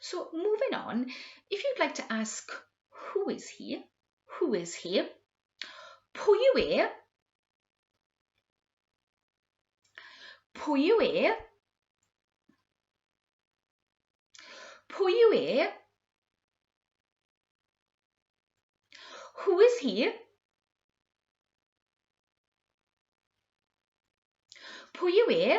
So, moving on, if you'd like to ask who is he, who is he, pwy yw e, pwy yw e, pwy yw e, who is he, pwy yw e,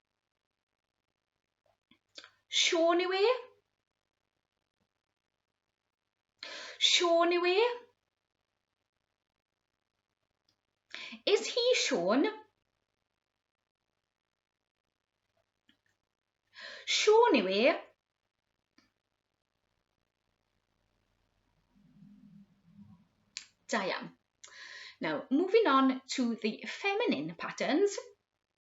Siôn yw e? Siôn yw e? Is he Siôn? Siôn yw e? Da iawn. Now, moving on to the feminine patterns.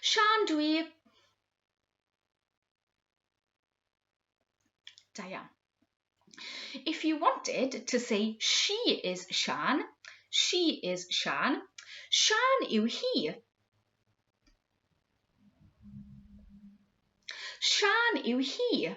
Sian, dwi. Da iawn. If you wanted to say she is Sian, she is Sian. Sian yw hi. Sian yw hi.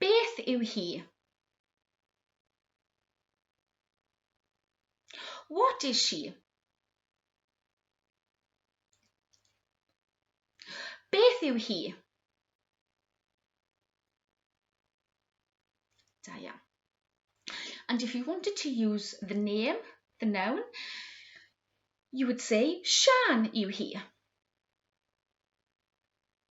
Beth yw hi? What is she? Beth yw hi? Da iawn. And if you wanted to use the name, the noun, you would say Sian yw hi.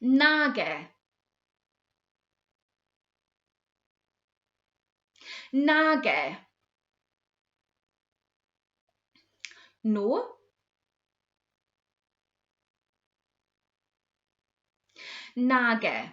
Nage. Nage. No. Nage.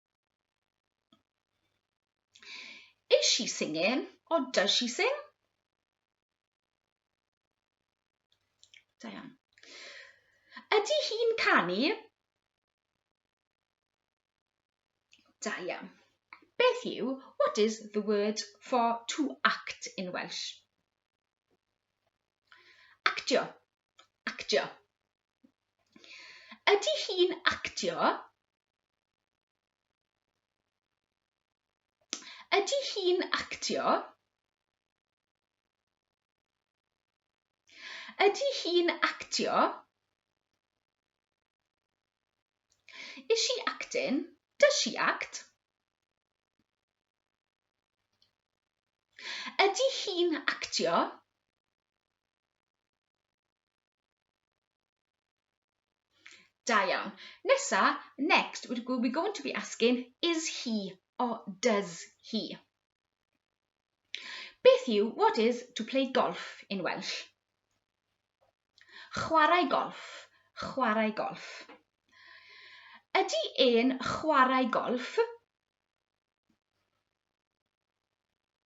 Is she singing or does she sing? Da iawn. Ydy hi'n canu? Da iawn. Beth yw, what is the word for to act in Welsh? Actio. Actio. Ydy hi'n actio? Ydy hi'n actio? Ydy hi'n actio? Is she acting? Does she act? Ydy hi'n actio? Da iawn. Nesa, next, we're going to be asking, is he or does he? Beth yw what is to play golf in Welsh? Chwarae golf, chwarae golf. Ydy e'n chwarae golf?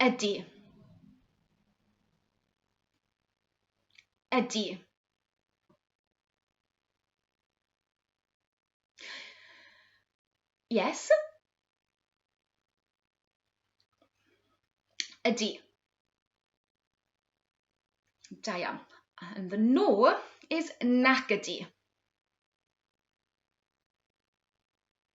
Ydy. Ydy. Yes. Ydy. Da iawn. And the no is nac ydy.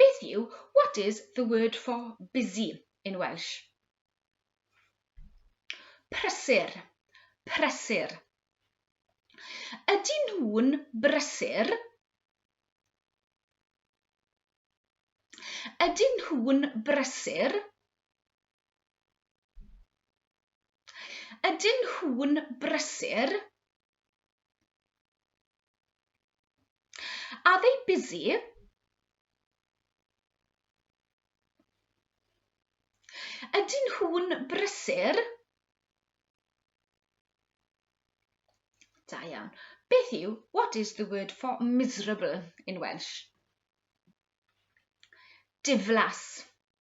Beth yw what is the word for busy in Welsh? Prysur, prysur. Ydyn nhw'n brysur? Ydyn nhw'n brysur? Ydyn nhw'n brysur? Are they busy? Ydyn nhw'n brysur? Da iawn. Beth yw, what is the word for miserable in Welsh? Diflas.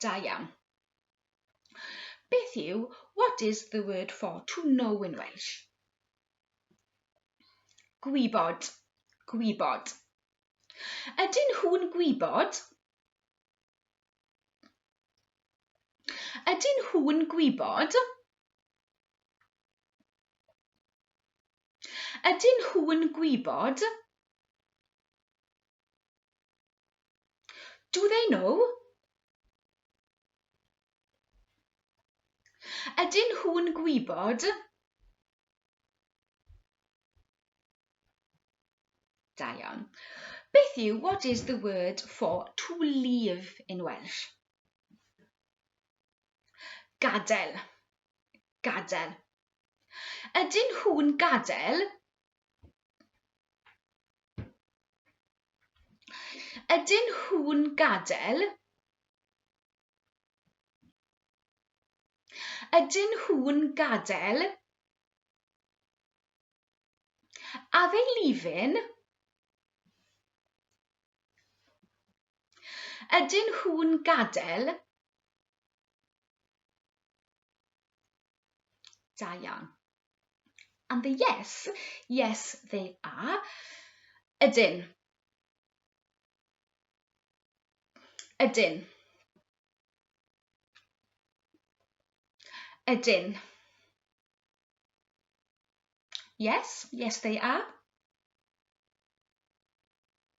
Da iawn. Beth yw what is the word for to know in Welsh? Gwybod, gwybod. Ydyn nhw'n gwybod? Ydyn nhw'n gwybod? Ydyn nhw'n gwybod? Do they know? Ydyn nhw'n gwybod? Da iawn. Beth yw what is the word for to leave in Welsh? Gadael. Gadael. Ydyn nhw'n gadael? Ydyn nhw'n gadael? Ydyn nhw'n gadael? Are they leaving? Ydyn nhw'n gadael? Da iawn. And the yes, yes they are. Ydyn. Ydyn. Ydyn. Yes, yes they are.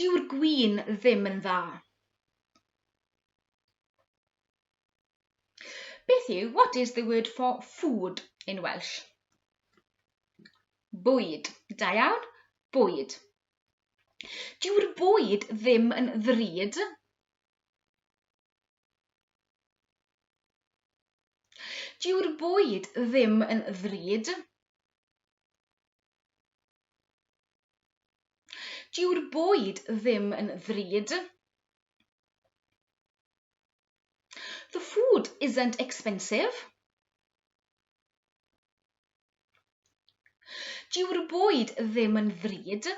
Dyw'r gwin ddim yn dda. Beth yw, what is the word for food in Welsh? Bwyd. Da iawn, bwyd. Dyw'r bwyd ddim yn ddrud. Dyw'r bwyd ddim yn ddrud. Dyw'r bwyd ddim yn ddrud. The food isn't expensive. Dyw'r bwyd ddim yn ddrud.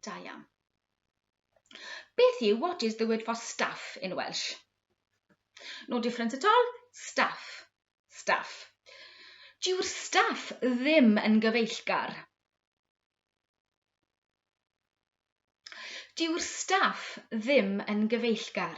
Da iawn. Beth yw what is the word for staff in Welsh? No difference at all? Staff. Staff. Dyw'r staff ddim yn gyfeillgar. Dyw'r staff ddim yn gyfeillgar.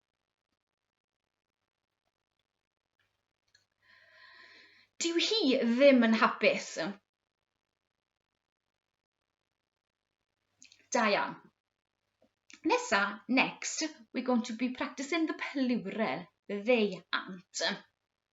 Dyw hi ddim yn hapus. Da iawn. Nesa, next, we're going to be practicing the plural, they, ant.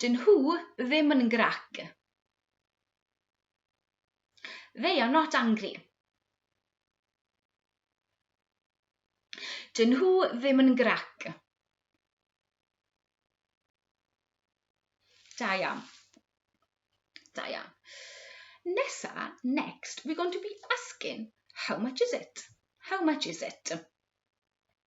Dyn nhw ddim yn grac. They are not angry. Dyn nhw ddim yn grac. Da iawn. Da iawn. Nesa, next, we're going to be asking, how much is it? How much is it?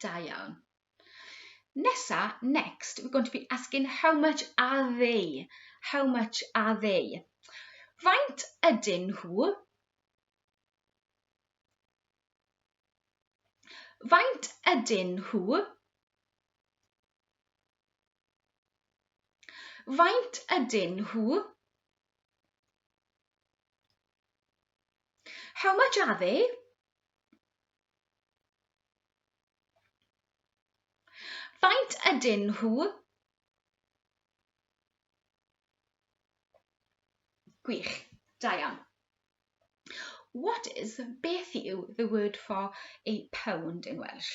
Da iawn. Nesa, next, we're going to be asking how much are they? How much are they? Faint ydyn nhw? Faint ydyn nhw? Faint ydyn nhw? How much are they? Faint ydyn nhw? Gwych, da iawn. What is, beth yw, the word for a pound in Welsh?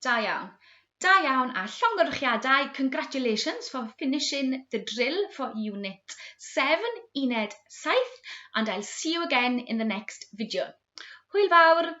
Da iawn. Da iawn a llongyfarchiadau, congratulations for finishing the drill for unit 7, uned 7, and I'll see you again in the next video. Hwyl fawr!